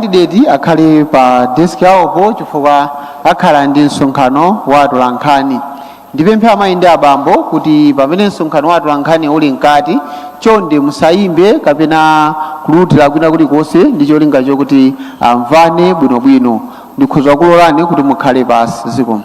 makandideti akhale pa desiki pawopo chifukwa akhala ndi msonkhano wa atolankhani ndipemphe amayi ndi abambo kuti pamene msonkhano wa atolankhani uli mkati chonde musayimbe kapena kululutira kwina kulikonse ndi cholinga chokuti amvane bwinobwino ndikhoza kulolani kuti mukhale pansi zikomo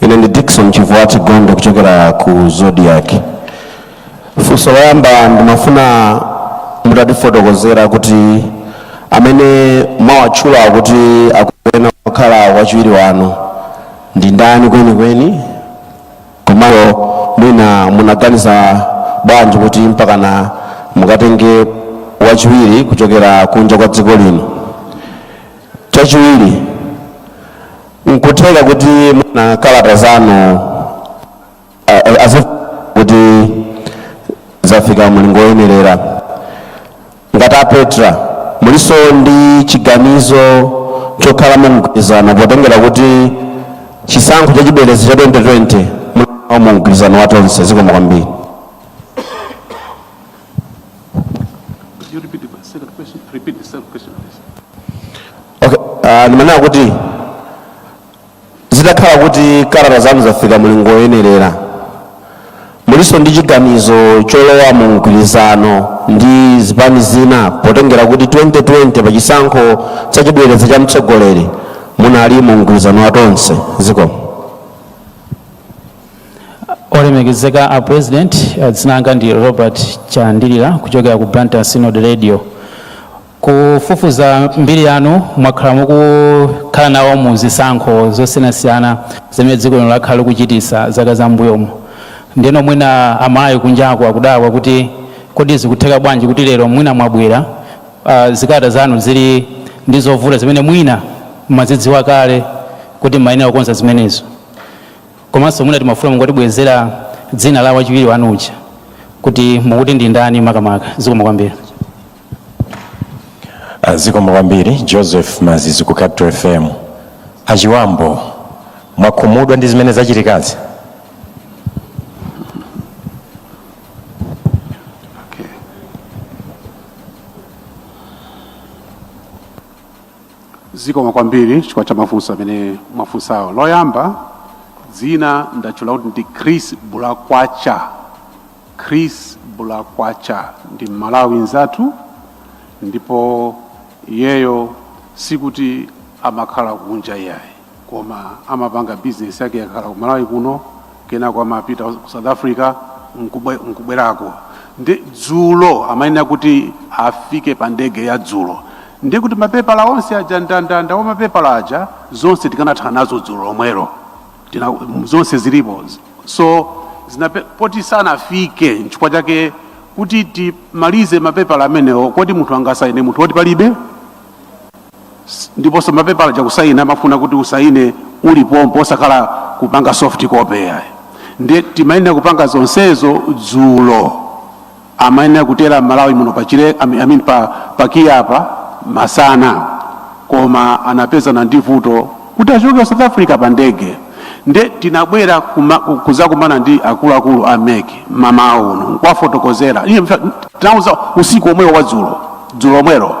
Ine ndi Dickson Chivwati Gondwe kuchokera ku Zodiac. Funso loyamba ndimafuna mutatifotokozera kuti amene mwawatchula kuti akuyenera kukhala wachiwiri wanu ndi ndani kwenikweni komanso mwina munaganiza bwanji kuti mpakana mukatenge wachiwiri kuchokera kunja kwa dziko lino chachiwiri nkutheka kuti mwina kalata zanu a- a- azi kuti zafika mlingo woyenerera ngati a petra mulinso ndi chiganizo chokhala mumgwirizano potengera kuti chisankho cha chibwereza cha 2020 munali nawo mumgwirizano wa tonse zikomo kwambiri Okay, uh, ndimanena kuti zitakhala kuti kalata zanu zafika mulingo woyenerera mulinso ndi chiganizo cholowa mu mgwirizano ndi zipani zina potengera kuti 2020 pa chisankho cha chibwereza cha mtsogoleri munali mu mgwirizano wa tonse zikomo olemekezeka a president eh, dzina langa ndi robert chandilira kuchokera ku blantyre synod radio Kufufuza mbiri yanu, mwakhala mukukhala nawo mu zisankho zosiyanasiyana zimene dziko lino lakhala likuchitisa zaka za m'mbuyomu. Ndeno mwina Amalawi kunjaku akudabwa kuti kodi zikutheka bwanji kuti lero mwina mwabwera zikalata zanu zili ndi zovuta zimene mwina mmazidziwa kale kuti mmayenera kukonza zimenezo. Komanso mwina timafuna mungotibwerezera dzina la wachiwiri wanu uja kuti mukuti ndi ndani makamaka. Zikomo kwambiri. zikomo kwambiri joseph mazizi ku capital fm achiwambo mwakhumudwa ndi zimene zachitikazi zikomo kwambiri chifukwa cha mafunso amene mwafunsawo loyamba dzina ndatchula kuti ndi chris bulakwacha Chris Bulakwacha ndi Mmalawi nzathu ndipo iyeyo sikuti amakhala kunja iyayi koma amapanga bizinesi yake akhala ku Malawi kuno kenako amapita ku South Africa nkubwe- nkubwerako ndi dzulo amayenera kuti afike pa ndege ya dzulo ndi kuti mapepala onse aja ndandanda wa mapepala aja zonse tikanathana nazo dzulo lomwelo tina zonse zilipo so zinape, poti sanafike nchifukwa chake kuti timalize mapepala amenewo kodi munthu angasaine munthu woti palibe S- ndiponso mapepala aja kusaina amafuna kuti usaine uli pompo osakhala kupanga soft copy yayi ndiye timayenera kupanga zonsezo dzulo amayenera kutera Malawi muno pa chile I mean, I mean pa pa KIA apa masana koma anapezana ndi vuto kuti achoke ku South Africa pa ndege nde tinabwera kuma- ku- kuzakumana ndi akuluakulu a MEC mmawa uno nkuwafotokozera Iye mfa- tinauza usiku omwewo wa dzulo dzulo omwero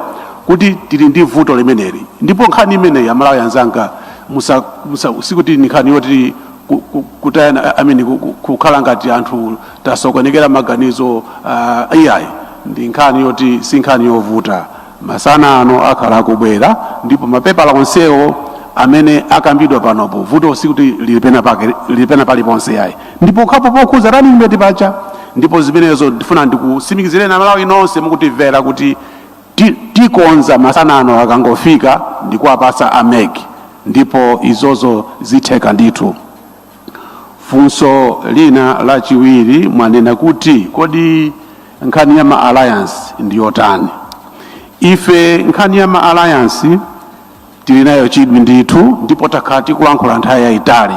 kuti tili ndi vuto limeneli ndipo nkhani imeneyi amalawi anzanga musa- musa- sikuti ni nkhani yoti ku- ku- kutayana I mean, ku- ku- kukhala ngati anthu tasokonekera maganizo ah, iyayi ndi nkhani yoti si nkhani yovuta masana ano akhala akubwera ndipo mapepala onsewo amene akambidwa panopo vuto sikuti lili pena pake lili pena paliponse yayi ndipo nkhani yokhudza running mate basi ndipo zimenezo ndifuna ndikusimikizireni amalawi nonse mukutimvera kuti ti- tikonza masana ano akangofika ndikuwapatsa a MEC ndipo izizo zitheka ndithu Funso lina lachiwiri mwanena kuti kodi nkhani ya ma alliance ndi yotani? Ife nkhani ya ma alliance tili nayo chidwi ndithu ndipo takhala tikulankhula nthawi yayitali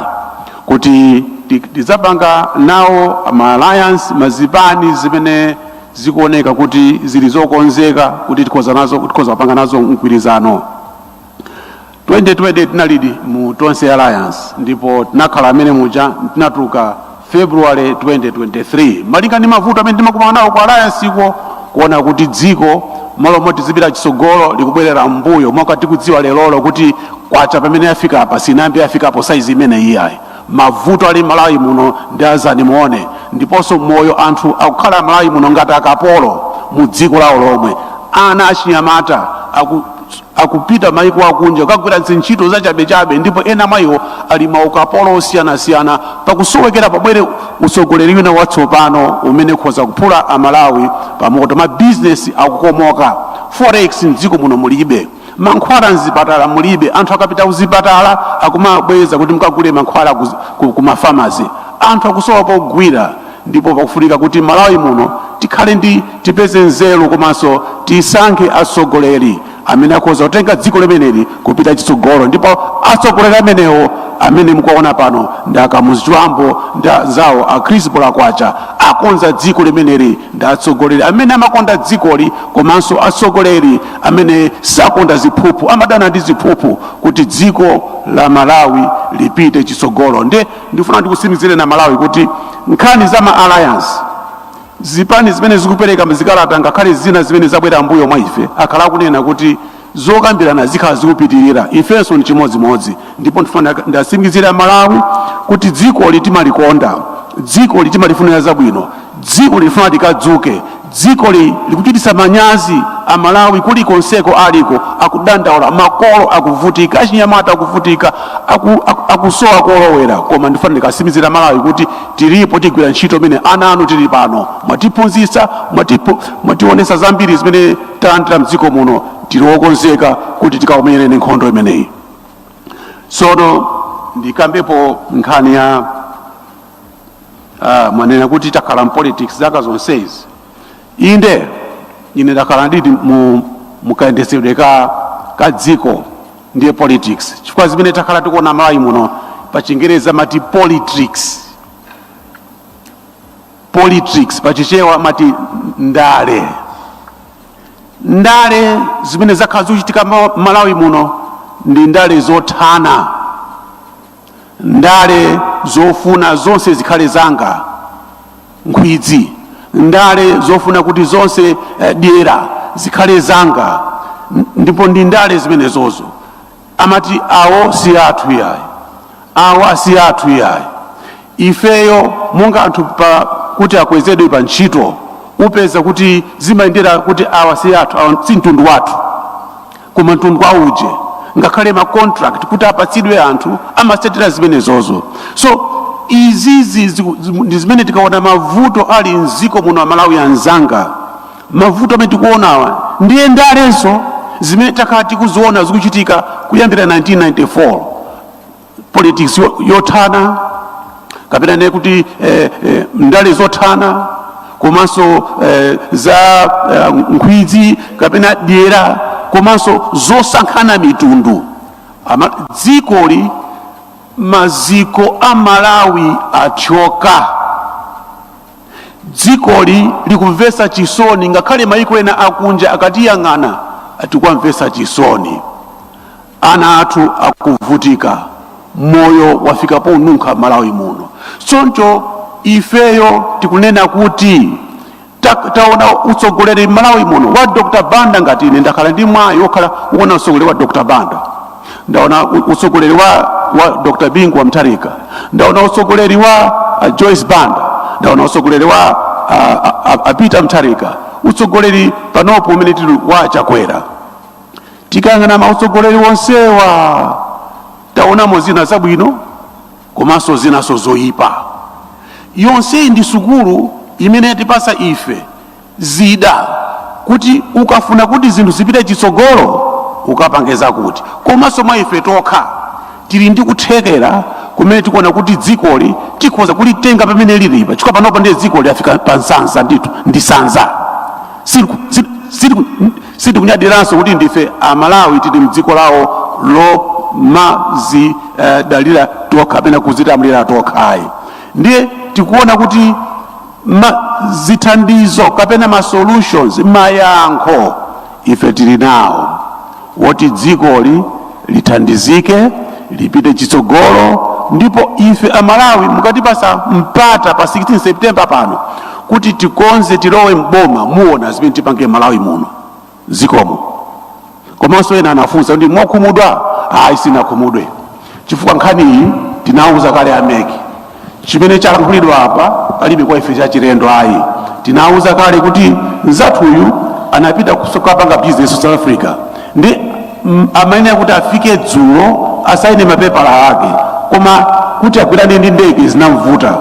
kuti ti- tidzapanga nawo ma alliance ndi zipani zimene zikuoneka kuti zili zokonzeka kuti tikhoza nazo tikhoza kupanga nazo mgwirizano 2020 tinalidi mu tonse alliance ndipo tinakhala mmene muja tinatuluka february 2023 malinga ndi mavuto amene timakumana nawo ku alliance iko kuona kuti dziko malo moti lizipita chitsogolo likubwerera mbuyo moti tikudziwa lerolo kuti kwacha pamene yafika apa sinayambe yafikapo saizi imene iyayi mavuto ali malawi muno ndi adzaoneni ndiponso moyo anthu akukhala malawi muno ngati akapolo mu dziko lawo lomwe ana achinyamata aku akupita maiko akunja kukagwira zintchito zachabechabe ndipo ena mwa iwo ali maukapolo osiyanasiyana pakusoweka kuti pabwere utsogoleri wina watsopano umene ukhoza kuphula amalawi pamoto mabizinesi akukomoka forex mdziko muno mulibe mankhwala mzipatala mulibe anthu akapita kuzipatala akumabweza kuti mukagule mankhwala ku- ku- ku mafamasi anthu akusowa pogwira ndipo pakufunika kuti Malawi muno tikhale ndi tipeze nzeru komanso tisankhe atsogoleri amene akhoza kutenga dziko limeneli kupita chitsogolo ndipo atsogoleri amenewo amene mukuwaona pano ndi a Kamuzu Chibambo ndi anzawo a Chris Polakwacha akonza dziko limeneli ndi atsogoleri amene amakonda dzikoli komanso atsogoleri amene sakonda ziphuphu amadana ndi ziphuphu kuti dziko la Malawi lipite chitsogolo ndi ndifuna ndikusimikizireni a malawi kuti nkhani za ma alliance zipani zimene zikupereka zikalata ngakhale zina zimene zabwera mbuyo mwa ife akhala akunena kuti zokambirana zikhala zikupitirira ifenso ni chimodzimodzi ndipo ndifuna ndiwasimikizire a malawi kuti dzikoli timalikonda dzikoli timalifunira zabwino dzikoli tifuna likadzuke Dzikoli likuchititsa manyazi a Malawi kulikonseko aliko akudandaula, makolo akuvutika, achinyamata akuvutika, aku, aku, akusowa kolowera. Koma ndifuna ndikasimikizire a Malawi kuti tilipo tigwira ntchito imene ana anu tili pano mwatiphunzitsa, mwatipo, mwatiwonesa zambiri zimene talandira mdziko muno, tili wokonzeka kuti tikakumenyereni nkhondo imeneyi. Tsono ndikambepo nkhani ya Ah, mwanena kuti takhala mpolitics zaka zonsezi inde ine ndakhala nditi m' mukayendetsedwe ka ka dziko ndiye politics chifukwa zimene takhala tikuona malawi muno pa chingerezi amati politricks politricks pa chichewa amati ndale ndale zimene zakhala zikuchitika ma- malawi muno ndi ndale zothana ndale zofuna zonse zikhale zanga nkhwidzi ndale zofuna kuti zonse eh, dyera zikhale zanga N- ndipo ndi ndale zimenezozo amati awo si athu yayi awa si athu yayi ifeyo monga anthu pa kuti akwezedwe pa ntchito upeza kuti zimayendera kuti awa si athu awa si mtundu wathu koma mtundu wa uje ngakhale ma contract kuti apatsidwe anthu amasatira zimenezozo so izizi ziku- zimu- ndi zimene tikaona mavuto ali mziko muno amalawi anzanga mavuto amene tikuonawa ndiye ndalezo zimene takhala tikuziona zikuchitika kuyambira 1994 politics yo- yothana kapena ne kuti eh, eh, ndale zothana komanso eh, za eh, nkhwidzi kapena dyera komanso zosankhana mitundu Ama, dzikoli maziko a malawi athyoka dzikoli likumvetsa chisoni ngakhale maiko ena akunja akatiyang'ana tikuwamvetsa chisoni Ana athu akuvutika, moyo wafika ponunkha Malawi muno. Choncho ifeyo tikunena kuti ta- taona utsogoleri m'Malawi muno wa Dr. Banda ngati ine ndakhala ndi mwayi wokhala ukuona utsogoleri wa Dr. Banda ndaona u- utsogoleri wa, wa Dr. Bingu wa Mutharika ndaona utsogoleri wa uh, Joyce Banda ndaona utsogoleri wa uh, uh, uh, Peter Mutharika utsogoleri panopo umene tili wa Chakwera Tikayang'ana mautsogoleri onsewa taonamo zina zabwino komanso zinanso zoyipa. Yonseyi ndi sukulu imene yatipasa ife zida kuti ukafuna kuti zinthu zipite chitsogolo ukapange zakuti, komanso mwa ife tokha tili ndi kuthekera kumene tikuona kuti dzikoli tikhoza kulitenga pamene lilipa chifukwa panopa ndiye dzikoli lafika pa nsanza ndithu ndi nsanza Siliku- sili- siliku- sitikunyadiranso kuti ndife amalawi tili mdziko lawo lomazidalira uh, tokha kapena kuzilamulira tokha ayi ndiye tikuona kuti ma, zithandizo kapena ma solutions mayankho ife tili nawo woti dzikoli lithandizike lipite chitsogolo ndipo ife amalawi mukatipasa mpata pa 16 september pano kuti tikonze tilowe mboma muona zimene tipange malawi muno zikomo komanso ena anafunsa kuti mwakhumudwa ayi sinakhumudwe chifukwa nkhaniyi tinawuza kale a MEC Chimene chalankhulidwa apa palibe kwa ife chachilendo ayi. Tinawuza kale kuti nzathuyu anapita kukapanga bizinesi South Africa ndi mm, amayenera kuti afike dzulo asaine mapepala ake, koma kuti agwirane ndi ndege zinamvuta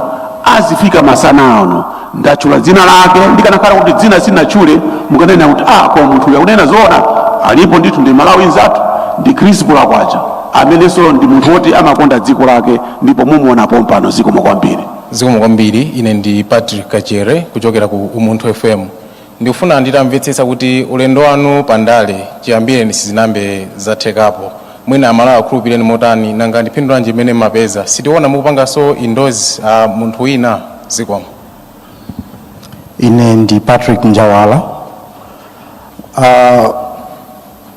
azifika masana ano ndatchula dzina lake ndikanakhala kuti dzina sinatchule mukanena kuti ah, kwa munthu uyu akunena zoona alipo ndithu ndi mmalawi nzathu ndi chris Bulakwacha amenenso ndi munthu woti amakonda dziko lake ndipo mumuona pompano zikomo kwambiri zikomo kwambiri ine ndi patrick kachere kuchokera ku umunthu fm ndikufuna nditamvetsetsa kuti ulendo wanu pa ndale chiyambireni sizinambe zathekapo mwina amalawi akhulupireni motani nanga ndi phindu lanji limene mmapeza sitiona mukupanganso endorse munthu wina zikomo ine ndi patrick njawala uh,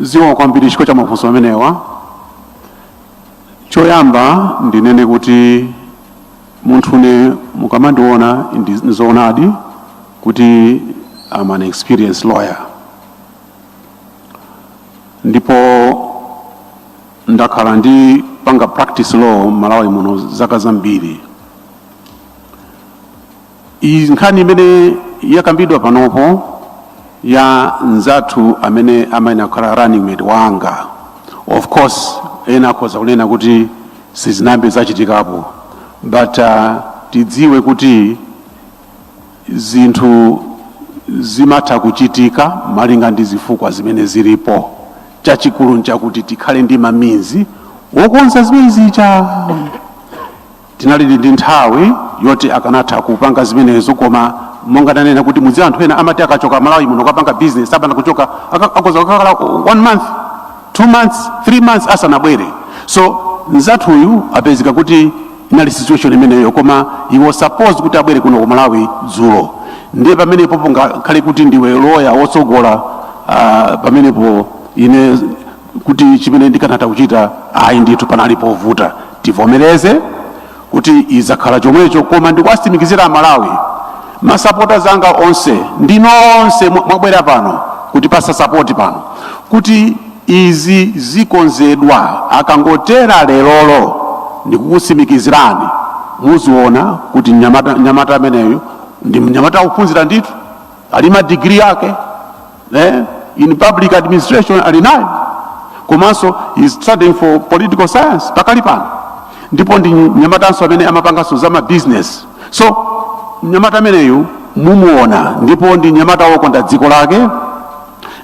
zikomo kwambiri chifukwa cha mafunso amenewa choyamba ndinene kuti munthune mukamandiona ndi- ndizoonadi kuti am an experienced lawyer ndipo ndakhala ndikupanga practice law mmalawi muno zaka zambiri Iyi nkhani imene yakambidwa panopo ya nzathu amene amayenera kukhala running mate wanga of course ena akhoza kunena kuti sizinayambe zachitikapo but uh, tidziwe kuti zinthu zimatha kuchitika malinga ndi zifukwa zimene zilipo chachikulu nchakuti tikhale ndi ma means wokonza zimene zicha Tinalidi ndi nthawi yoti akanatha kupanga zimenezo koma monga ndanena kuti mudziwa anthu ena amati akachoka Malawi muno kapanga business akapanda kuchoka aka- akoza kukakhala one month two months three months asanabwere so mzathuyu apezeka kuti inali situation imeneyo koma he was supposed kuti abwere kuno ku Malawi dzulo ndiye pamenepo ngakhale kuti ndiwe loya wotsogola ah, pamenepo ine kuti chimene ndikanatha kuchita ayi ndithu panali povuta tivomereze kuti zizakhala chomwecho koma ndikuwatsimikizira amalawi masapota anga onse ndi nonse mwa- mwabwera pano kuti kupatsa sapoti pano kuti izi zikonzedwa akangotera lerolo ndikukutsimikizirani muziona kuti mnyamata mnyamata ameneyu ndi mnyamata wophunzira ndithu ali madigiri ake eh, in public administration ali nayo komanso he's studying for political science pakali pano ndipo ndi mnyamatanso amene amapanganso za ma business so mnyamata ameneyu mumuona ndipo ndi mnyamata wokonda dziko lake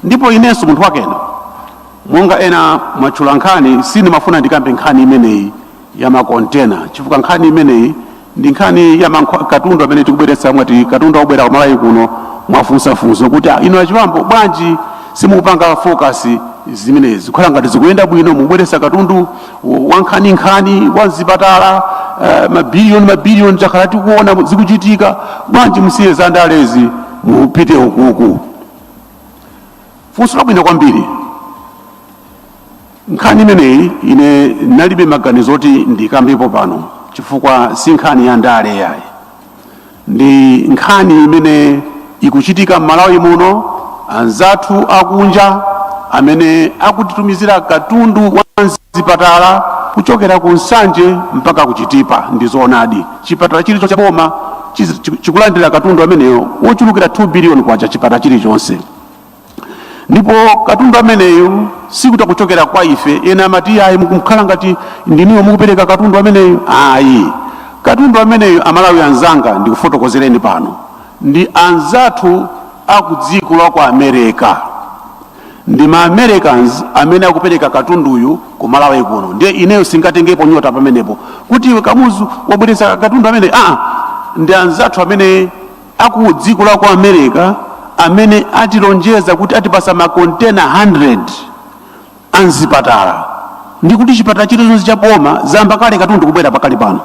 ndipo inenso munthu wakena monga ena mwatchula nkhani sindimafuna ndikambe nkhani imeneyi ya makontena chifukwa nkhani imeneyi ndi nkhani ya mankho- katundu amene tikubweretsa mwati katundu akubwera ku malawi kuno mwafunsa funso kuti "Ah, inu a Chipambo bwanji simukupanga focus zimenezi kukhala ngati zikuyenda bwino mukubweretsa katundu wa nkhaninkhani wa mzipatala eh, mabiliyoni mabiliyoni takhala tikuona zikuchitika bwanji musiye za ndalezi mupite ukuku funso labwino kwambiri Nkhani imeneyi ine ndinalibe maganizo oti ndikambepo pano chifukwa si nkhani ya ndale yayi, ndi nkhani imene ikuchitika m'Malawi muno. Anzathu akunja amene akutitumizira katundu wa mzipatala kuchokera ku Nsanje mpaka ku Chitipa ndi zoonadi. Chipatala chilichonse cha boma chizi- chiku- chikulandira katundu ameneyo wochulukirapo 2 biliyoni kwacha chipatala chilichonse. ndipo katundu ameneyu sikuti akuchokera kwa ife ena amati ayi mukukhala ngati ndiniwo mukupereka katundu ameneyu ayi katundu ameneyu amalawi anzanga ndikufotokozereni pano ndi anzathu aku dziko la ku america ndi ma americans amene akupereka katunduyu ku malawi kuno ndiye ineyo sindingatengepo nyota pamenepo kuti iwe kamuzu wabweretsa katundu amene aa ndi anzathu amene a ku dziko la ku america amene atilonjeza kuti atipasa makontena 100 a mzipatala ndi kuti chipatala chilichonse cha boma wayamba kale katundu kubwera pakali pano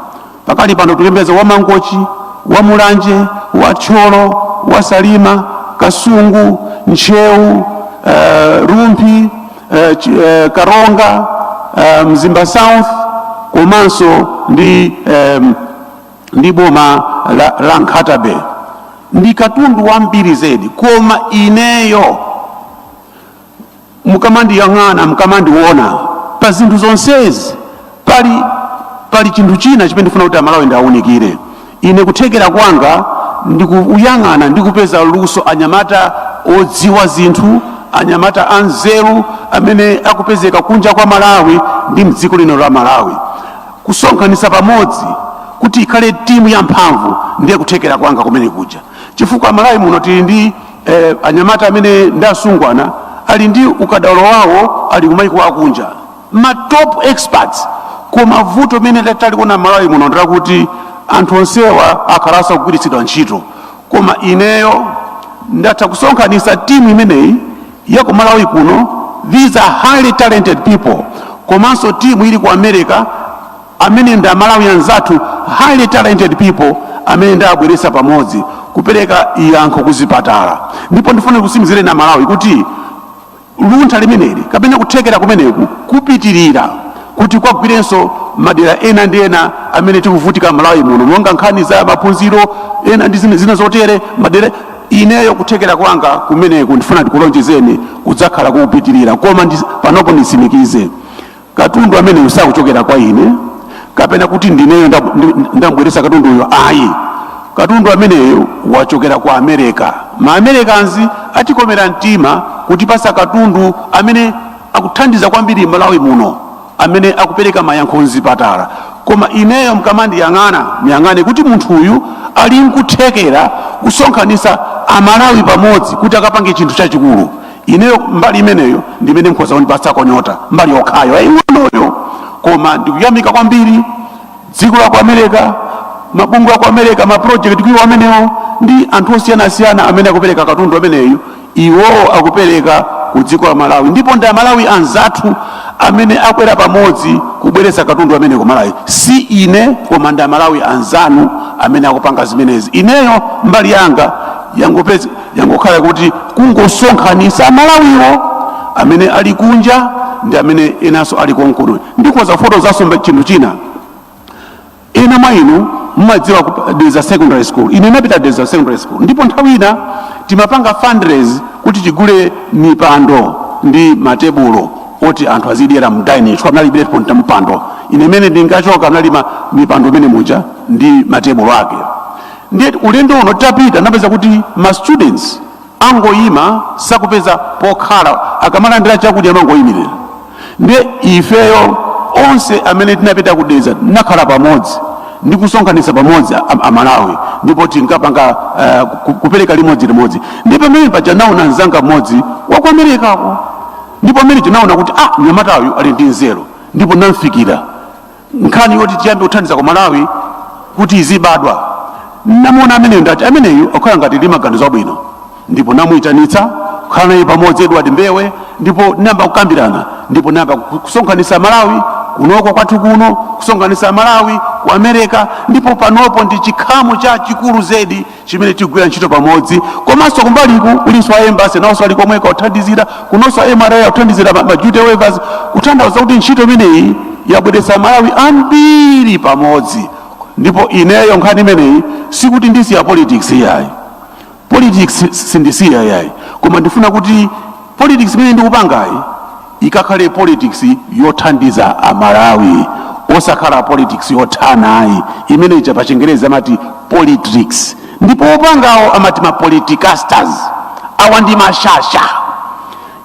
pakali pano tikuyembekeza wa mangochi wa mulanje wa thyolo wa salima kasungu ntcheu eh, rumphi eh, Ch- eh, karonga eh, mzimba south komanso ndi eh, ndi boma la, la Nkhata Bay ndi katundu wambiri zedi, koma ineyo mukamandiyang'ana mukamandiona pa zinthu zonsezi pali pali chinthu china chimene ndifuna kuti amalawi ndiwaunikire ine kuthekera kwanga ndikuyang'ana ndikupeza luso anyamata odziwa zinthu anyamata anzeru amene akupezeka kunja kwa malawi ndi mdziko lino la malawi kusonkhanitsa pamodzi kuti ikhale timu ya mphamvu ndiye kuthekera kwanga kumeneku chifukwa malawi muno tili ndi eh, anyamata amene ndi asungwana ali ndi ukadaulo wawo ali kumaiko akunja ma top experts koma vuto limene taliona malawi muno ndi lakuti anthu onsewa akhala asakugwiritsidwa ntchito koma ineyo ndatha kusonkhanitsa timu imeneyi ya ku Malawi kuno these are highly talented people komanso timu ili ku America amene ndi amalawi anzathu highly talented people amene ndabweretsa pamodzi kupereka yankho kuzipatala ndipo ndifuna nkutsimikizireni amalawi kuti luntha limeneli kapena kuthekera kumeneku kupitirira kuti kukagwirenso madera ena ndi ena amene tikuvutika malawi muno monga nkhani za maphunziro ena ndi zina zotere madera Ineyo kuthekera kwanga kumeneku ndifuna ndikulonjezeni kudzakhala kopitirira koma ndi, panopo nditsimikize katundu ameneyo sakuchokera kwa ine kapena kuti ndineyo ndab- ndi- ndabweretsa katunduyo ayi katundu ameneyo wachokera ku amerika ma americans atikomera mtima kutipasa katundu amene akuthandiza kwambiri malawi muno amene akupereka mayankho mzipatala koma ineyo mkamandiyang'ana mundiyang'ane kuti munthu uyu ali nkuthekera kusonkhanitsa amalawi pamodzi kuti akapange chinthu chachikulu ineyo mbali imeneyo ndi imene mkhoza kundipatsako nyota mbali yokhayo yaying'onoyo koma ndikuyamika kwambiri dziko la ku america mabungwe aku america maprojekti cure iwo amenewo ndi anthu osiyanasiyana amene akupereka katundu ameneyu Iwowo akupereka ku dziko la Malawi ndipo ndi amalawi anzathu amene abwera pamodzi kubweretsa katundu amene ku Malawi. Si ine koma ndi amalawi anzanu amene akupanga zimenezi. Ineyo mbali yanga yangopez, yangokhala kuti kungosonkhanitsa amalawiwo amene ali kunja ndi amene enanso ali konkuno. Ndikhoza kufotokozanso chinthu china. ena mwa inu mumadziwa ku- Dedza secondary school ine napita Dedza secondary school ndipo nthawi ina timapanga fundraise kuti tigule mipando ndi matebulo oti anthu azidyera mu dining chifukwa mnalibiretu mpando ine mmene ndinkachoka munali mipando mmenemuja ndi matebulo ake ndiye ulendo uno tapita napeza kuti ma students angoyima sakupeza pokhala akamalandira chakudya amangoyimirira ndiye ifeyo onse amene tinapita ku Dedza tinakhala pamodzi ndi kusonkhanitsa pamodzi amalawi ndipo tinkapanga uh, kupereka limodzi limodzi ndi pamene paja naona mzanga mmodzi wa ku amerikako ndipo amene tinaona kuti ah mnyamatayu ali ndi nzeru ndipo namfikira nkhani yoti tiyambe kuthandiza ku malawi kuti izibadwa namuona ameneyo ndati ameneyu akhala ngati ali ndi maganizo abwino ndipo namuyitanitsa kukhala naye pamodzi edward mbewe ndipo nayamba kukambirana ndipo nayamba ku- kusonkhanitsa malawi kunoko kwathu kuno kusonkhanitsa malawi ku america ndipo panopo ndi chikhamu chachikulu zedi chimene tigwira ntchito pamodzi komanso kumbaliku kulinso a embassy nawonso ali komweko kuthandizira kunonso mra akuthandizira ma ma duty waivers kutanthauza kuti ntchito imeneyi yabweretsa malawi ambiri pamodzi ndipo ineyo nkhani imeneyi sikuti ndisiya politics iyayi politics sindisiya iyayi koma ndifuna kuti politics imene ndikupangayi Ikakhale politics yothandiza a Malawi osakhala politics yothana ayi imene ija pa chingerezi amati politrix ndipo opangawo amati ma politicasters awa ndi mashasha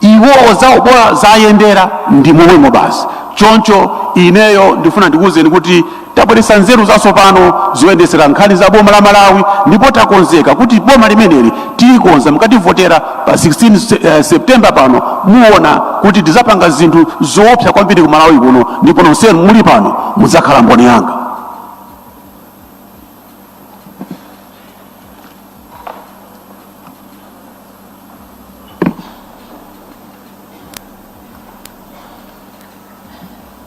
iwowo zawo bola zayendera ndi momwemo basi choncho ineyo ndifuna ndikuwuzeni kuti Tabweretsa nzeru zatsopano zoyendetsera nkhani za boma la Malawi ndipo takonzeka kuti boma limeneli tilikonza mukativotera pa 16 Se- eh, September pano muona kuti tidzapanga zinthu zoopsa kwambiri ku Malawi kuno ndipo nonsenu muli pano mudzakhala mboni yanga.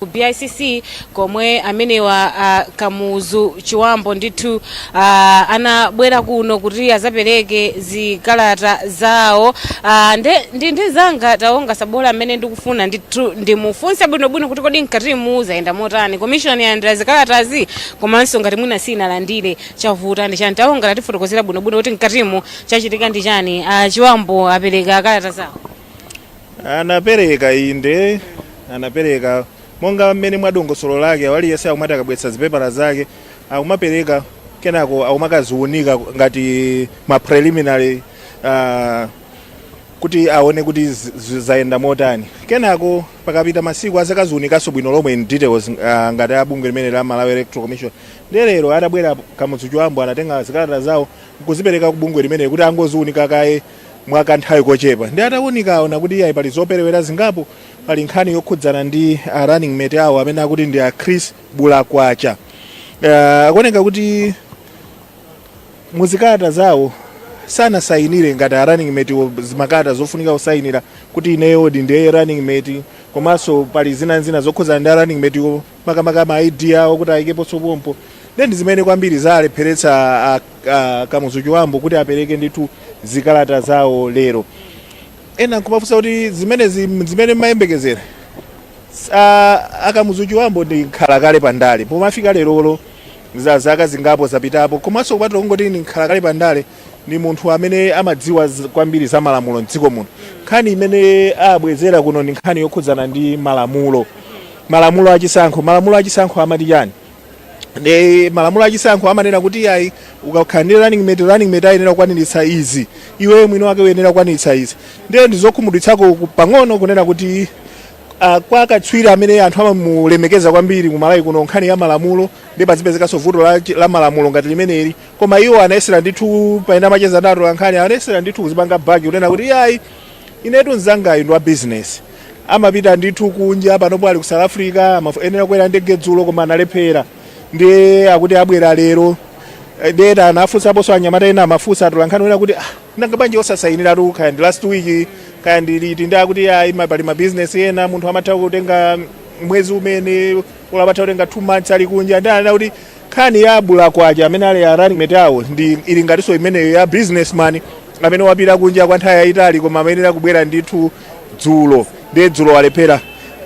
ku BICC komwe amenewa uh, Kamuzu Chiwambo ndithu uh, anabwera kuno kuti azapereke zikalata zawo uh, nde ndi ndi mzanga Taonga Sabola amene ndikufuna ndithu ndimufunse bwinobwino kuti kodi mkatimu zayenda motani commission yalandira zikalatazi komanso ngati mwina sinalandire chavuta ndi chani Taonga tatifotokozera bwinobwino kuti mkatimu chachitika ndi chani uh, Chiwambo apereka kalata zawo anapereka inde anapereka monga mmene mwa dongosolo lake la aliyense akumati akabweretsa zipepala zake akumapereka kenako akumakaziunika ngati ma preliminary uh, kuti aone kuti zi- zi- zayenda motani kenako pakapita masiku azakaziunikanso bwino lomwe in details uh, ngati abungwe limeneli la malawi electoral commission ndi lero atabwera Kamuzu Chiwambo anatenga zikalata zawo nkuzipereka ku bungwe limeneli kuti angoziunika kaye mwa kanthawi kochepa ndi atawunika aona kuti iyayi pali zoperewera zingapo pali nkhani yokhudzana ndi a running mate awo amene akuti ndi a chris bulakwacha uh, akuoneka kuti muzikalata zawo sanasayinire ngati a running mate wo zimakalata zofunika kusayinira kuti ineyo di ndiye running mate komanso pali zinanzina zokhudzana ndi a running mate wo makamaka ma ID awo kuti ayikeponso pompo nde ndi zimene kwambiri zalepheretsa a- a- Kamuzu Chiwambo kuti apereke ndithu zikalata zawo lero ena nkumafunsa kuti zimene zi- zimene mmayembekezera a- a Kamuzu Chiwambo ndi nkhalakale pandale pomafika lerolo za zaka zingapo zapitapo komanso kupatula kungoti ndi nkhalakale pandale ndi munthu amene amadziwa z- kwambiri za malamulo mdziko muno nkhani imene abwezera kuno ndi nkhani yokhudzana ndi malamulo malamulo achisankho malamulo achisankho amati chani ndi malamulo achisankho amanena kuti ayi ukakhala ndi running mate running mate ayenera kukwaniritsa izi iwe mwini wake uyenera kukwaniritsa izi ndiye ndizokhumudwitsako ku- pang'ono kunena kuti uh, kwa katswiri amene anthu amamulemekeza kwambiri kumalawi kuno nkhani ya malamulo ndiye pazipezekanso vuto la, la malamulo ngati limeneli koma iwo anayesera ndithu pena amacheza ndi atolankhani anayesera ndithu kuzipanga bagi kunena kuti ayi Inetu mzangayo ndi wa business amapita ndithu kunja panopo ali ku South Africa amayenera kukwera ndege dzulo koma analephera ndiye akuti abwera lero Eh, ndiye ena anafunsaponso anyamata ena amafunsa atolankhani wena kuti ah, nanga bwanji osasayiniratu kaya ndi last week kaya ndi liti ndi akuti ayi ma- pali mabizinesi ena munthu amatha kutenga mwezi mwina olo amatha kutenga two months ali kunja nde anakuti Nkhani ya a bulakwacha amene ali a running mate awo ndi ili ngatinso imeneyo ya business man amene wapita kunja kwa nthawi yayitali koma amayenera kubwera ndithu dzulo ndiye dzulo walephera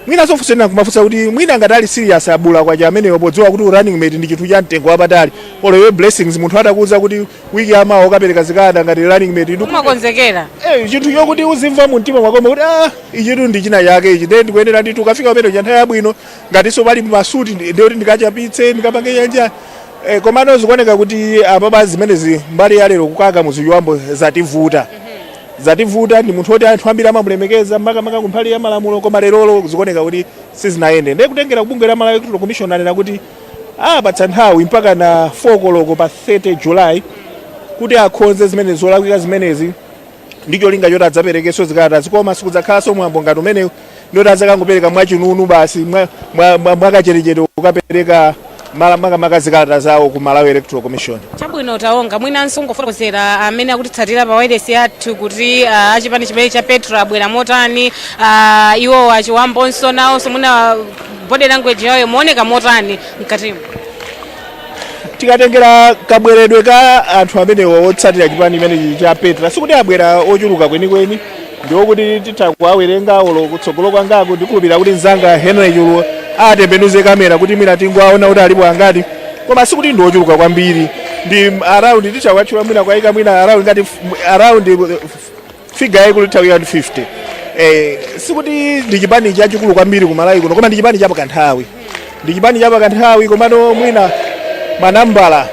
mwinanso funso ina kumafunsa kuti mwina ngati ali serious a bulakwacha ameneyo podziwa kuti running mate ndi chinthu cha mtengo wapatali olo iwe blessings munthu atakuwuza kuti wiki yamawa ukapereka zikada ngati running mate ndi umakonzekera Eh, chinthu chokuti uzimva mu mtima mwako kuti ah ichitu ndi china chake ichi ndiye ndikuyenera ndithu kukafika pamene cha nthawi yabwino ngatinso pali masuti ndi- ndiye kuti ndikachapitse ndikapange chanja eh, komano zikuoneka kuti apapa zimenezi mbali ya lero ku ka- kamuzu chiwambo zativuta zativuta ndi munthu woti anthu ambiri amamulemekeza makamaka kumbali ya malamulo koma lerolo zikuoneka kuti sizinayende ndiye kutengera kubungwe la malawi electoral commission anena kuti apatsa nthawi mpaka na 4 koloko pa 30 july kuti akonze zimene zolakwika zimenezi ndi cholinga choti adzaperekenso zikalatazi koma sikudzakhalanso mwambo ngati umenewu ndoti adzakangopereka mwachinunu basi mwa- mwa- mwa- mwakachetechete kukapereka mala- makamaka zikalata zawo ku malawi electoral commission chabwino taonga mwinanso ungofotokozera amene akutitsatira pa wailesi yathu kuti ah, achipani chimene cha petra abwera motani ah, iwo a chiwambonso nawonso mwina body language yawo imaoneka motani mkatimo tikatengera kabweredwe ka anthu amenewa otsatira chipani chimenechi cha petra sikuti abwera ochuluka kwenikweni ndiokuti titha kuwawerenga olo kutsogolo kwangaku ndikhulupirira kuti mzanga henry chuluwa atembenuze kamera kuti mwina tingowaona kuti alipo angati koma sikuti ndi ochuluka kwambiri ndi around titha kuwatchula mwina kuwayika mwina around ngati f- around figure yaikulu itha kukhala ndi 50 eh, sikuti ndi chipani chachikulu kwambiri ku malawi kuno koma ndi chipani chapakanthawi ndi chipani chapakanthawi komano mwina manambala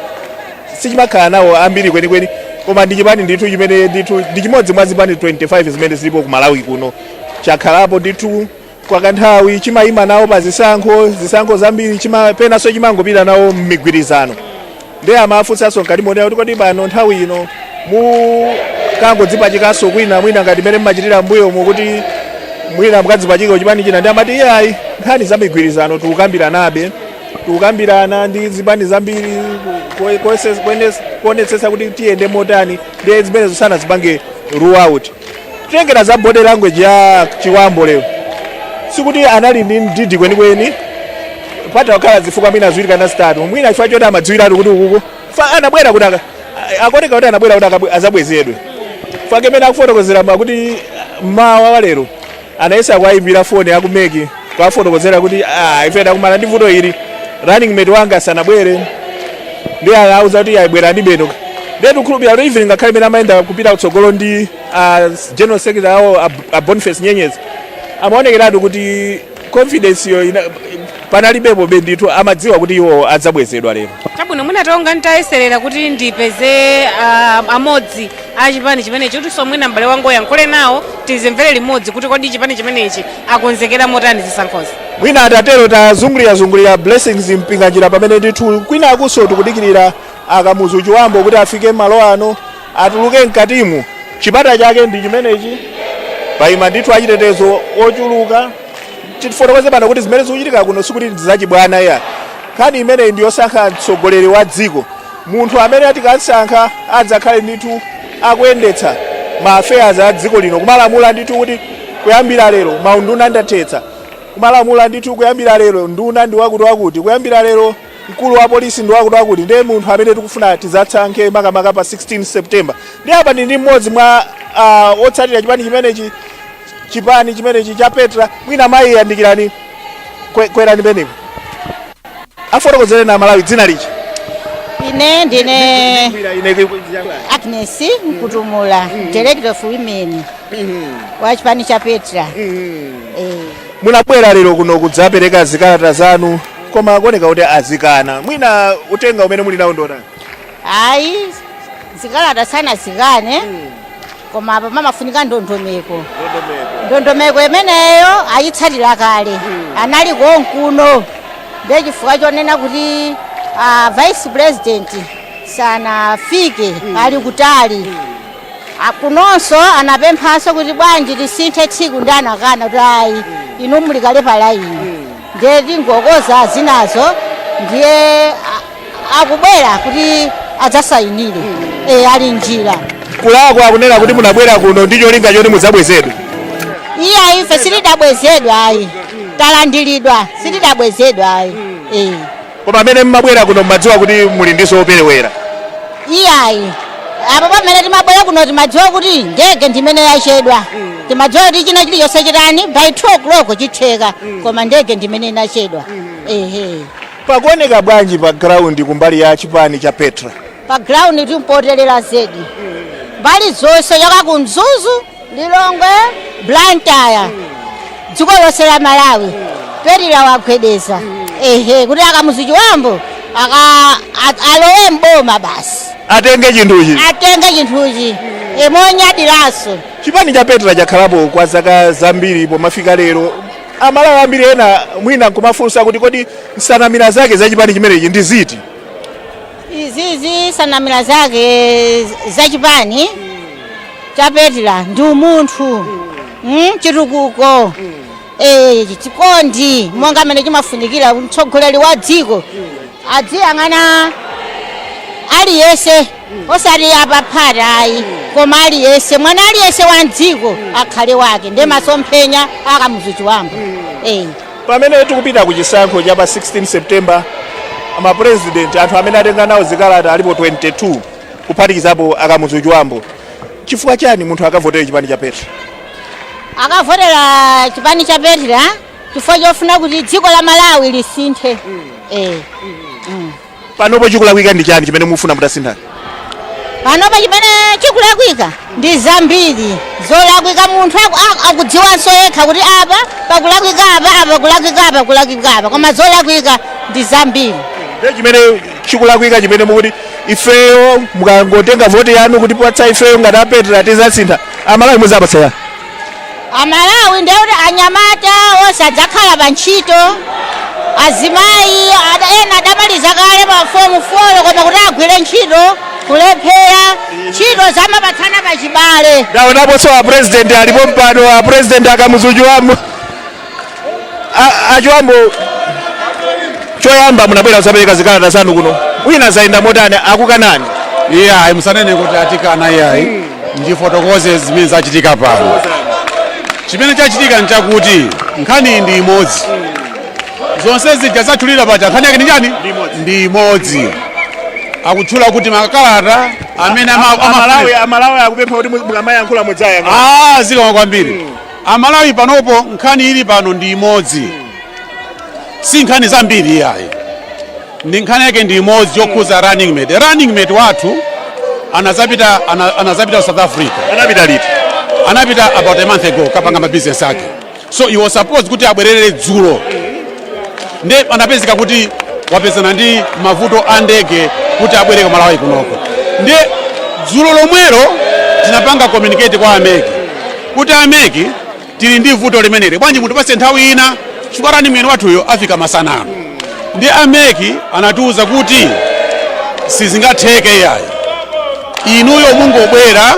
sichimakhala nawo ambiri kwenikweni koma ndi chipani ndithu chimene ndithu ndi chimodzi mwa zipani 25 zimene zilipo ku malawi kuno chakhalapo ndithu kwa kanthawi chimayima nawo pa zisankho zisankho zambiri chima- penanso chimangopita nawo mmigwirizano ndiye amafunsanso mkati monena kuti kodi pano nthawi ino mukangodzipachikanso kwina mwina ngati mmene mmachitira mbuyomu kuti mwina mukadzipachika chipani china ndi amati iyayi nkhani za migwirizano tikukambiranabe tikukambirana ndi zipani zambiri ku- ku- kuonetsetsa kuti tiyende motani ndiye zimenezo sanazipange rule out Kutengera za body language ya Chiwambo lero sikuti anali ndi mdidi kwenikweni patha kukhala zifukwa mwina ziwiri kana zitatu mwina chifukwa choti amadziwiratu kuti ukuku fa anabwera kuti aka- a- akuoneka kuti anabwera kuti akabwe- azabwezedwe fake mmene akufotokozeramo akuti mmawa wa lero Anayesa kuwaimbira foni aku mec kuwafotokozera kuti ah, ife takumana ndi vuto ili la running mate wanga sanabwere ndiye anawauza kuti ayi bwerani basi ndiye tikukhulupirira kuti even ngakhale mmene amayenda kupita kutsogolo ndi ah, general secretary awo a- a boniface nyenyezi amaonekeratu kuti confidence yo ina- panalibepobe ndithu amadziwa kuti iwo adzabwezedwa lero chabwino mwina ndingoti nditayeserera kuti ndipeze ah, amodzi a chipani chimenechi kutinso mwina m'bale wanga uyankhule nawo tizimvere limodzi kuti kodi chipani chimenechi akonzekera motani zisankhozi mwina atatero tazungulirazungulira blessings mpinganjira pamene ndithu kwina akunso tikudikirira akamuzu chibambo kuti afike mmalo ano atuluke mkatimu chipata chake ndi chimenechi paima ndithu achitetezo ochuluka tifotokoze pano kuti zimene zikuchitika kuno sikuti ndizachibwana iyayi nkhani imeneyi ndiyosankha mtsogoleri wa dziko Munthu amene tikamsankha adzakhale ndithu akuyendetsa ma affairs a dziko lino, kumalamula ndithu kuti kuyambira lero maunduna ndathetsa, kumalamula ndithu kuyambira lero nduna ndi wakuti wakuti, kuyambira lero mkulu wa polisi ndi wakuti wakuti, ndiye munthu amene tikufuna tidzasankhe makamaka pa 16 September. Ndiye apa ndi ndi mmodzi mwa ah, otsatira chipani chimenechi chipani chimenechi cha Petra mwina mayi yandikirani kwe- kwerani penepo. afotokozereni amalawi dzina lija ine ndine agnes mkutumula director of women wa chipani cha petra Eh, munabwera lero kuno kudzapereka zikalata zanu koma kukuoneka kuti azikana mwina uthenga umene muli nawo ndi wotani ayi zikalata sanazikane koma apa pamafunika ndondomeko ndondomeko imeneyo ayitsatira kale anali konkuno ndiye chifukwa chonena kuti ah, vice president sanafike ali kutali Ah, kunonso anapemphanso kuti bwanji tisinthe tsiku ndiye anakana kuti ayi inu muli kale pa laini ndiye tingokonza zinazo ndiye a- akubwera kuti adzasayinire e, ali mnjira kulakwa akunena kuti munabwera kuno ndi cholinga choti mudzabwezedwe iyayi ife sitidabwezedwa ayi talandiridwa sitidabwezedwa ayi e. Koma amene mmabwera kuno mmadziwa kuti muli ndi zoperewera? Iyayi. Apo pamene timabwera kuno timadziwa kuti ndege ndi imene yachedwa. Timadziwa kuti china chilichonse chitani by 2 o'clock chitheka koma ndege ndi imene inachedwa. Ehe. Pakuoneka bwanji pa ground kumbali ya chipani cha Petra? Pa ground ndi potelera zedi. Mbali zonse yoka ku Mzuzu Lilongwe, Blantyre, dziko lonse la Malawi Petra yagwedeza ehe kuti a Kamuzu Chibambo aka a- alowe mboma basi atenge chinthuchi atenge chinthuchi monyadiranso chipani cha Petra chakhalapo kwa zaka zambiri pomafika lero Amalawi ambiri ena mwina nkumafunsa kuti kodi nsanamira zake za chipani chimenechi ndi ziti Izizi nsanamira zake za chipani cha Petra ndi umunthu mm, chitukuko eh, chikondi monga mmene chimafunikira mtsogoleri wa dziko aziyang'ana aliyense osati apaphata ayi koma aliyense mwana aliyense wa mdziko akhale wake nde masomphenya a Kamuzu Chibambo eh. Pamene tikupita ku chisankho cha pa 16 September, ama president anthu amene atenga nawo zikalata alipo 22 kuphatikizapo a Kamuzu Chibambo. Chifukwa chani munthu akavotere chipani cha Petra? Akavotera chipani cha Petra chifukwa chofuna kuti dziko la Malawi lisinthe. Eh. Panopo chikulakwika ndi chani chimene mufuna mutasintha? Panopo chimene chikulakwika ndi zambiri zolakwika munthu aku- aku- akudziwanso yekha kuti apa pakulakwika apa apa pakulakwika apa pakulakwika apa koma zolakwika ndi zambiri Ndiye chimene chikulakwika chimene mukuti ifeyo mukangotenga voti yanu kutipatsa ifeyo ngati a Petra tizasintha Amalawi muzawapatsa chani? Amalawi ndiye kuti anyamata onse adzakhala pa ntchito azimayi ada- ena adamaliza kale pa fomu folo koma kuti agwire ntchito kulephera ntchito amapatsana pachibale ndaonaponso apresident ali pompano apresident a Kamuzu Chibambo A- a Chibambo choyamba munabwera kuzapereka zikalata zanu kuno mwina zayenda motani akukanani iyayi musanene kuti atikana iyayi ndifotokoze zimene zachitika pano chimene chachitika nchakuti nkhani ndi imodzi zonse zija zatchulidwa paja nkhani yake ndi chani ndi imodzi akutchula kuti makalata amene ama- amafuna- Amalawi akupempha kuti mukamayankhula mudziyankha Ah, zikomo kwambiri Amalawi panopo nkhani ili pano ndi imodzi, si nkhani zambiri iyayi, ndi nkhani yake ndi imodzi yokhuza running mate. Running mate wathu anazapita ana, anazapita South Africa. Anapita liti? Anapita about a month ago kukapanga ma business ake. So he was supposed kuti abwerere dzulo. Nde anapezeka kuti wapezana ndi mavuto a ndege kuti abwere ku Malawi kunoko. Nde dzulo lomwero tinapanga communicate kwa a MEC kuti a MEC tili ndi vuto limeneli bwanji mutipase nthawi ina chifukwa running mate wathuyo afika masana ano ndi a MEC anatiwuza kuti sizingatheke yayi inuyo mungobwera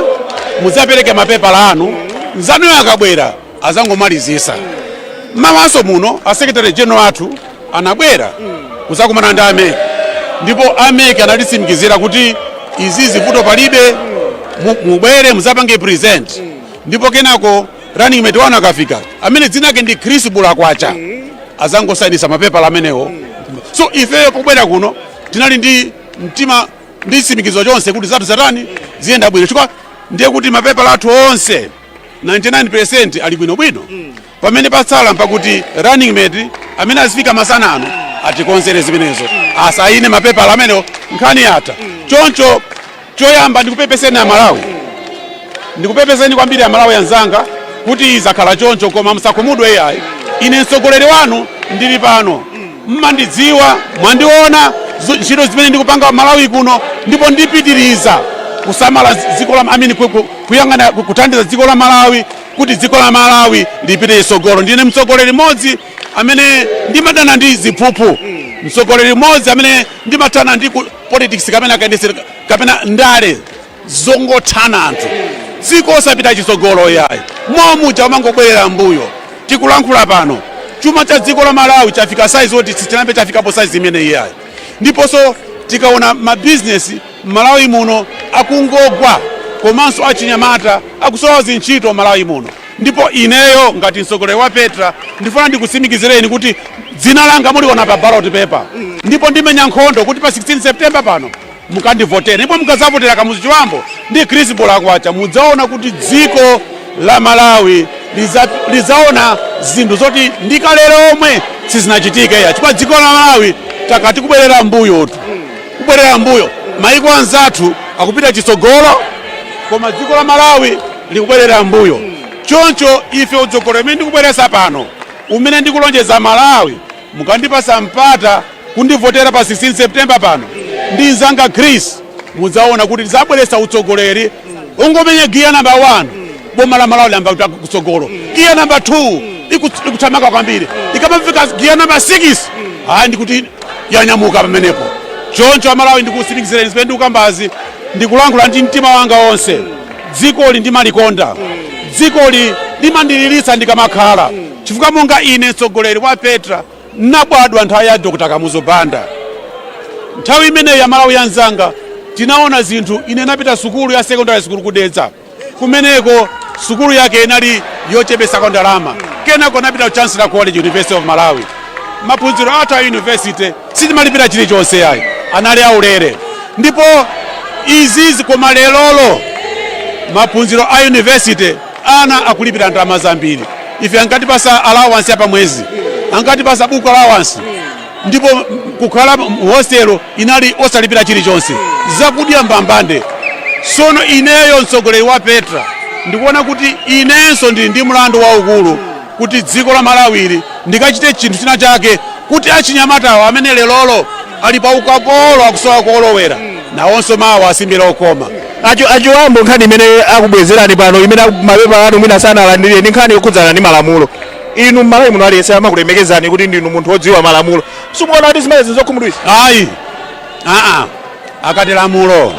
mudzapereke mapepala anu nzanuyo akabwera azangomalizisa mmawanso muno a secretary general athu anabwera kuzakumana ndi a MEC ndipo a MEC anatisimikizira kuti izizi vuto palibe mubwere muzapange present ndipo kenako running mate wanu akafika amene dzina lake ndi Chris Bulakwacha azangosainisa mapepala amenewo so ifeyo pobwera kuno tinali ndi mtima ndi chisimikizo chonse kuti zathu zatani ziyenda bwino chifukwa ndiye kuti mapepala athu onse 99% ali bwino bwino mm. pamene patsala mpakuti running mate amene azifika masana ano atikonzere zimenezo asayine mapepala amenewo nkhani yatha choncho choyamba ndikupepeseni amalawi ndikupepeseni kwambiri amalawi anzanga kuti zakhala choncho koma musakhumudwe iyayi ine mtsogoleri wanu ndili pano mmandidziwa mwandiona zu- ntchito zimene ndikupanga malawi kuno ndipo ndipitiriza kusamala dziko la I mean ku- ku- kuyang'ana ku- kuthandiza dziko la malawi kuti dziko la Malawi lipite chitsogolo. Ndine mtsogoleri mmodzi amene ndimadana ndi ziphuphu, mtsogoleri mmodzi amene ndimathana ndi ku- politics kapena kayendetsera kapena ndale zongothana anthu dziko osapita chitsogolo yayi momuja umangobwerera mbuyo tikulankhula pano chuma cha dziko la malawi chafika saizi oti sichinambe chafikapo saizi imeneyi yayi ndiponso tikaona mabizinesi M'malawi muno akungogwa komanso achinyamata akusowa zintchito m'malawi muno ndipo ineyo ngati mtsogoleri wa Petra ndifuna ndikutsimikizireni kuti dzina langa muliona pa ballot paper ndipo ndimenya nkhondo kuti pa 16 September pano mukandivotere ndipo mukazavotera Kamuzu Chibambo ndi Chris Bulakwacha mudzaona kuti dziko la Malawi liza, lizaona zinthu zoti ndi kale lomwe sizinachitike yayi chifukwa dziko la Malawi takhala tikubwerera mbuyotu kubwerera mbuyo. Maiko anzathu akupita chitsogolo koma dziko la Malawi likubwerera mbuyo. Choncho ife utsogoleri umene ndikubweretsa pano umene ndikulonjeza Amalawi mukandipatsa mpata kundivotera pa 16 September pano ndi nzanga Chris mudzaona kuti tidzabweretsa utsogoleri ungomenya giya namba 1 boma la Malawi liyamba kupita kutsogolo. Giya namba 2 ikuthamanga kwambiri ikamafika giya namba 6 ayi ndikuti yanyamuka pamenepo choncho amalawi ndikusimikizireni zimene ndikukambazi ndikulankhula ndi mtima wanga wonse dzikoli ndimalikonda dzikoli limandiliritsa ndikamakhala chifukwa monga ine mtsogoleri wa petra nabadwa nthawi ya dr kamuzu banda nthawi imeneyi amalawi anzanga tinaona zinthu ine napita sukulu ya secondary sukulu ku Dedza kumeneko sukulu yake inali yochepesako ndalama kenako ndinapita ku chancellor college university of malawi maphunziro athu a university sitimalipira chilichonse ayi anali aulere ndipo izizi koma lerolo maphunziro a university ana akulipira ndalama zambiri ife ankatipasa allowance ya pamwezi ankatipasa buku allowance ndipo kukhala mu hostel inali osalipira chilichonse zakudya mbambande sono ineyo mtsogoleri wa petra ndikuona kuti inenso ndili ndi mlandu waukulu kuti dziko la malawili ndikachite chinthu china chake kuti achinyamatawo amene lerolo ali pa ukapolo akusowa kolowera nawonso mawa asimbe lokoma a Chibambo nkhani imene akubwezerani pano imene mapepala anu mwina sanalandiridwe ndi nkhani yokhudzana ndi malamulo. inu mmalawi muno aliyense amakulemekezani kuti ndinu munthu wodziwa malamulo simukuona kuti zimenezi nzokhumudwisa ayi aa akati lamulo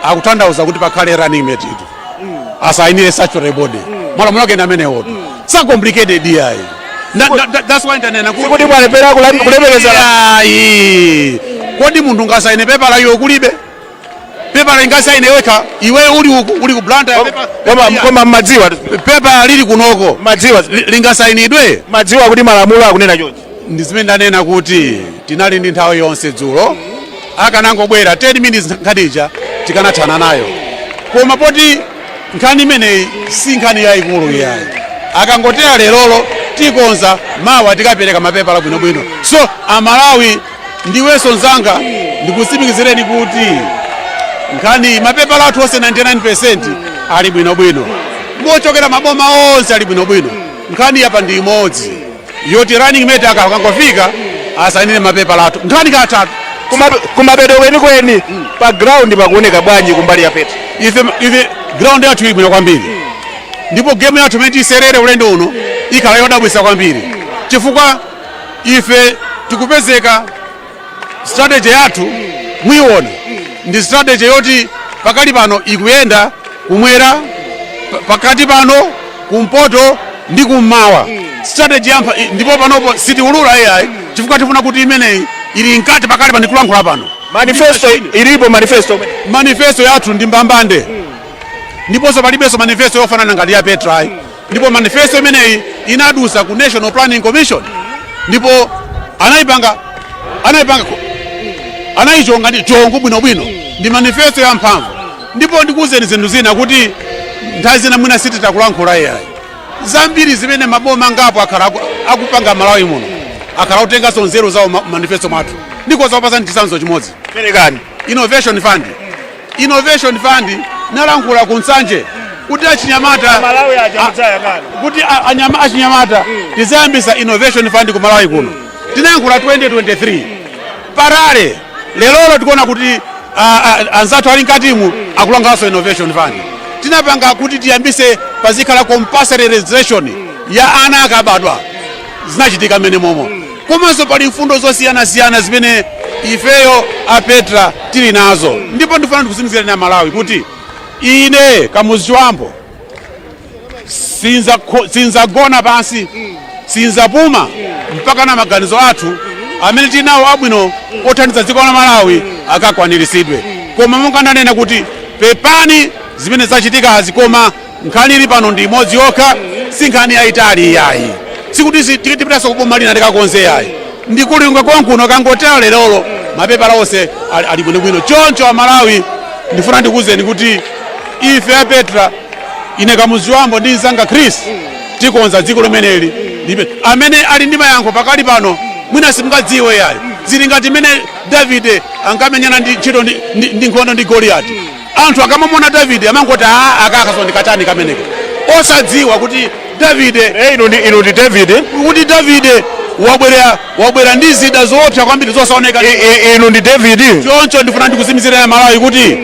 akutanthauza kuti pakhale running mate iti asainire statutory body malamulo ake ndi amenewotu sa complicated iyayi Na- na- na- that's why ndanena kuti sikuti mwalepera kulemekezana ayi kodi munthu ngasaine pepala iye kulibe pepala lingasaine lokha iwe uli uku uli ku blantyre koma koma mmadziwa pepala lili kunoko mmadziwa lingasainidwe mmadziwa kuti malamulo akunena chonchi ndi zimene ndanena kuti tinali ndi nthawi yonse dzulo akanangobwera 10 minutes nkhanija tikanathana nayo koma poti nkhani imeneyi si nkhani yayikulu iyayi akangotera lerolo tikonza mawa tikapereka mapepala bwinobwino so amalawi Ndiwenso mzanga, ndikutsimikizireni kuti nkhaniyi mapepala athu onse 99% ali bwinobwino ndipo ochokera maboma onse ali bwinobwino. Nkhani ya apa ndi imodzi yoti running mate aka akangofika asainire mapepala athu nkhani yatha. Kumape- kumapeto kwenikweni pa ground pakuoneka bwanji kumbali ya petra Ife, ife ground yathu ili bwino kwambiri ndipo game yathu imene tiyisewere ulendo uno ikhala yodabwitsa kwambiri chifukwa ife tikupezeka strategy yathu muyiona ndi strategy yoti pakali pano ikuyenda kumwera pa- pakati pano kumpoto ndi kummawa strategy yampa ndipo panopo sitiulula iyayi chifukwa tifuna kuti imeneyi ili mkati pakali pano tikulankhula pano manifesto ilipo manifesto manifesto yathu ndi mbambande ndiponso palibenso manifesto yofanana ngati ya petra ayi ndipo manifesto imeneyi inadusa ku national planning commission ndipo anayipanga anayipanga anayichonga ndi chongo bwinobwino ndi manifesto ya mphamvu ndipo ndikuwuzeni zinthu zina kuti nthawi zina mwina sititakulankhula iyayi zambiri zimene maboma angapo akhala aku- akupanga malawi muno akhala kutenganso nzeru zawo mmanifesto mwathu ndikoza kukupasani chisanzo chimodzi perekani innovation fund Innovation Fund ndinalankhula ku Nsanje kuti achinyamata kuti achinyamata tizayambisa Innovation Fund ku Malawi kuno tinayankhula 2023 patali lerolo tikuona kuti anzathu ali mkatimu akulankhulanso Innovation Fund tinapanga kuti tiyambise pazikhala compulsory registration ya ana akabadwa zinachitika mmenemomo. Komanso pali mfundo zosiyanasiyana zimene ifeyo a Petra tili nazo, ndipo ndifuna ndikutsimikizireni Amalawi kuti ine Kamuzu Chibambo sinzakho- sinzagona pansi sinzapuma mpakana maganizo athu amene tili nawo abwino othandiza dziko la Malawi akakwaniritsidwe. Koma monga ndanena kuti pepani zimene zachitikazi koma Nkhani ili pano ndi imodzi yokha, si nkhani yayitali iyayi, sikuti zi- ti- tipitanso kuboma lina tikakonze yayi, ndi ku Lilongwe konkuno kangotero lerolo mapepala onse ali ali bwinobwino. Choncho Amalawi, ndifuna ndikuwuzeni kuti ife a Petra, ine Kamuzu Chibambo ndi mzanga Chris tikonza dziko limeneli libe amene ali ndi mayankho pakali pano mwina simungadziwe yayi zili ngati mmene davide ankamenyana ndi ntchito ndi, ndi, ndi nkhondo ndi goliyati Anthu akamamuona Davide amangoti aa aka akaso ndikatani kameneka osadziwa kuti Davide eh, inu ndi inu ndi David kuti Davide wabwera wabwera ndi zida zoopsa kwambiri zosaoneka I- i- inu ndi David choncho ndifuna ndikutsimikizireni Amalawi kuti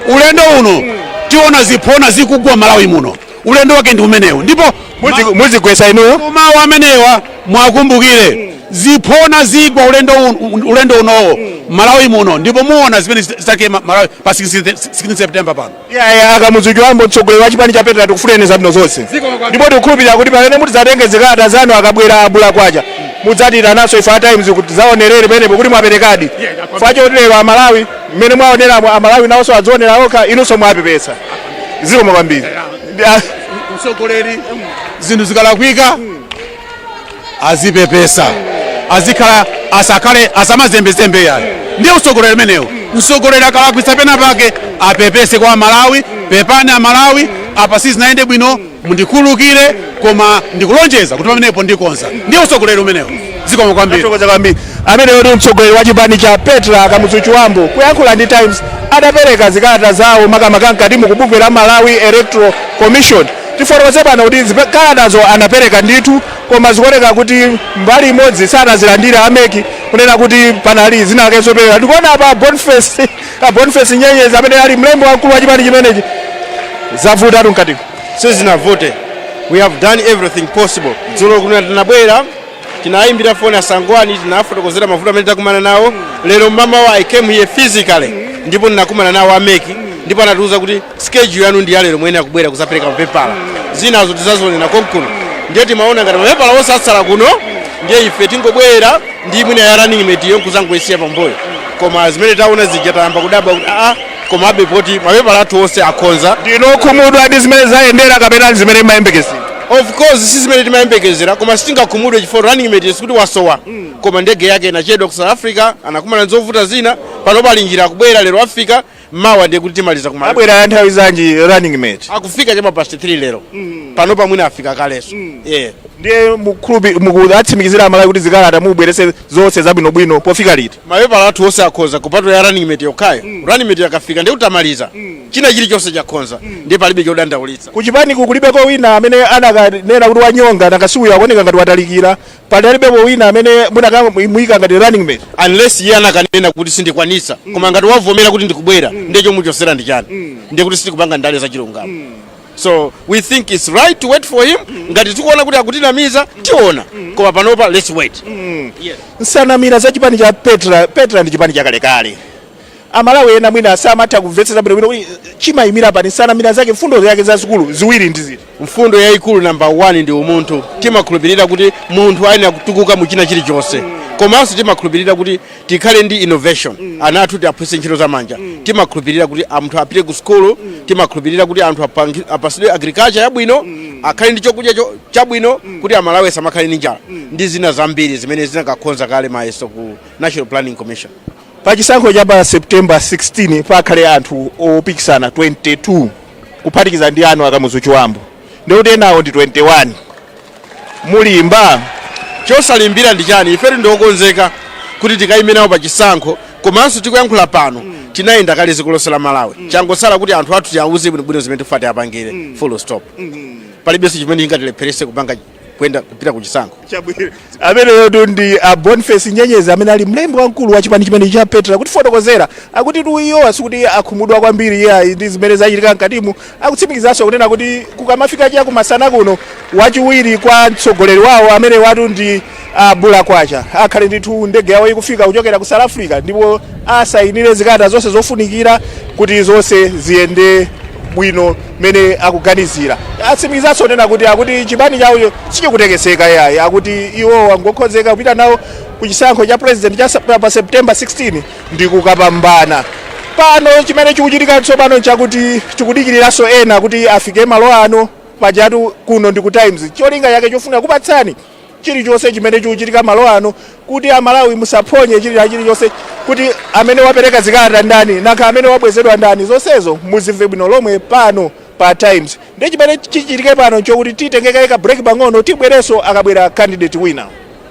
ulendo uno tiona ziphona zikugwa Malawi muno ulendo wake ndi umenewu ndipo Muzi- muzigwesa inuyo mawu amenewa muwakumbukire ziphona zigwa ulendo un- ulendo unowo malawi muno ndipo muona zimene zita- zitake ma- malawi pa 16 september pano iyaya a Kamuzu Chibambo mtsogoleri wa chipani cha petra tikufunireni zabwino zonse ndipo tikukhulupirira kuti pamene mutidzatenge zikalata zanu akabwera a Bullah kwacha mudzatiitananso ife a Times kuti tidzaonerere pamenepo kuti mwaperekadi chifukwa choti lero amalawi mmene mwaoneramo amalawi nawonso adzionera okha inunso mwapepesa zikomo kwambiri Ndi- mtsogoleri zinthu zikalakwika azipepesa azikhala asakhale asamazembezembe yayi ndiye utsogoleri umenewo mtsogoleri akalakwitsa pena pake apepese kwa amalawi pepani amalawi apa sizinayende bwino Mundikhululukire koma ndikulonjeza kuti pamenepo ndikonza. Ndiye utsogoleri umenewo. Zikomo kwambiri. Tathokoza kwambiri. Ameneyo ndi mtsogoleri wa chipani cha Petra Kamuzu Chibambo kuyankhula ndi Times atapereka zikalata zawo makamaka mkatimu kubungwe la Malawi Electoral Commission. Tifotokoze pano kuti zikalatazo anapereka ndithu koma zikuoneka kuti mbali imodzi sanazilandire a MEC kunena kuti panali zina zake zoperewera. Tikuona apa Boniface a Boniface Nyenyezi amene ali mlembi wamkulu wa chipani chimenechi zavutatu mkatiko sizinavute we have done everything possible dzulo kuno tinabwera tinayimbira foni asangwani tinafotokozera mavuto amene takumana nawo lero mamawa i came here physically ndipo ndinakumana nawo ameki ndipo anatiuza kuti Schedule yanu ndi yalero muyenera kubwera kuzapereka mapepala zinazo tizazionera konkuno ndiye timaona ngati mapepala onse atsala kuno ndiye ife tingobwera ndi mwina ya running mate iyo nkuzangoisiya pambuyo koma zimene taona zija tayamba kudabwa kuti aa komabe poti mapepala athu onse akhoza ndinu okhumudwa ndi zimene zayendera kapena ndi zimene mayembekezera of course si zimene timayembekezera koma sitingakhumudwe chifukwa running mate sikuti wasowa koma ndege yake inachedwa ku south africa anakumana nzovuta zina pano pali njira akubwera lero afika mawa ndiye kuti timaliza kumaliza abwera ya nthawi zanji running mate akufika chama past 3 lero pano pamwina afika kaleso yeah ndiye mukhulupi muku- watsimikizira amalawi kuti zikalata mubwerese zonse zabwinobwino pofika liti mapepala athu onse akhoza kupatula ya running mate yokhayo running mate yakafika ndiye kuti tamaliza china chilichonse chakhoza ndiye palibe chodandaulitsa kuchipaniku kulibeko wina amene munakanena kuti wanyonga wanakasiuyo akuoneka ngati watalikira Palibepo wina amene munakamuika ngati running mate unless iye anakanena kuti sindikwanitsa mm. koma ngati wavomera kuti ndikubwera mm. ndiye chomuchosera ndi chani mm. ndiye kuti sitikupanga ndale za chilungamo mm. so we think it's right to wait for him mm. ngati tikuona kuti akutinamiza mm. tiona mm. koma panopa let's wait mm. yeah. nsanamira za chipani cha petra petra ndi chipani chakalekale Amalawi ena mwina samatha kumvetsetsa bwinobwino kuti chimayimira pati, nsanamira zake, mfundo zake zazikulu ziwiri ndi ziti? Mfundo yayikulu number one ndi umunthu. Timakhulupirira kuti munthu ayenera kutukuka mu china chilichonse komanso timakhulupirira kuti tikhale ndi innovation, ana athu tiaphunzitse ntchito za manja, timakhulupirira kuti anthu apite ku sukulu, timakhulupirira kuti anthu apangi- apasidwe agriculture yabwino, akhale ndi chokudya cho- chabwino kuti amalawi asamakhale ndi njala ndi zina zambiri zimene zinakakhoza kale mayeso ku National Planning Commission. Pa chisankho cha pa September 16 pakhale anthu opikisana 22 kuphatikiza ndi anu Akamuzu Chibambo ndikuti enawo ndi 21 mulimba chosalimbira ndi chani ife ndi okonzeka kuti tikayime nawo pa chisankho komanso tikuyankhula pano tinayenda kale dziko lonse la malawi changosala kuti anthu athu tiawuze bwinobwino zimene tifuna tiapangire full stop palibenso chimene chingatilepherese kupanga kwenda kupita ku chisankho chabwino ameneyo tu ndi a boniface nyenyezi amene ali mlembi wamkulu wa chipani chimenechi cha petra kutifotokozera akuti tu iwowa sikuti akhumudwa kwambiri iyayi ndi zimene zachitika mkatimu akutsimikizanso kunena kuti kukamafika cha kumasana kuno wachiwiri kwa mtsogoleri wawo amene watu ndi A Bulakwacha akhale ndithu ndege yawo ikufika kuchokera ku South Africa ndipo asayinire zikalata zonse zofunikira kuti zonse ziyende bwino mmene akuganizira. Atsimikizanso kunena kuti akuti chipani chawocho sichikutekeseka iyayi, akuti iwowa ngokonzeka kupita nawo ku chisankho cha President cha Sep- pa September 16 ndi kukapambana. Pano chimene chikuchitika tsopano nchakuti tikudikiriranso ena kuti afike malo ano pajatu kuno ndi ku Times cholinga chake chofuna kupatsani chilichonse chimene chikuchitika malo ano kuti amalawi musaphonye chilichilichonse kuti amene wapereka zikalata ndani nanga amene wabwezedwa ndani zonsezo muzimve bwino lomwe pano pa times ndi chimene chichitike pano nchokuti titenge kaye ka break pang'ono tibwerenso akabwera candidate wina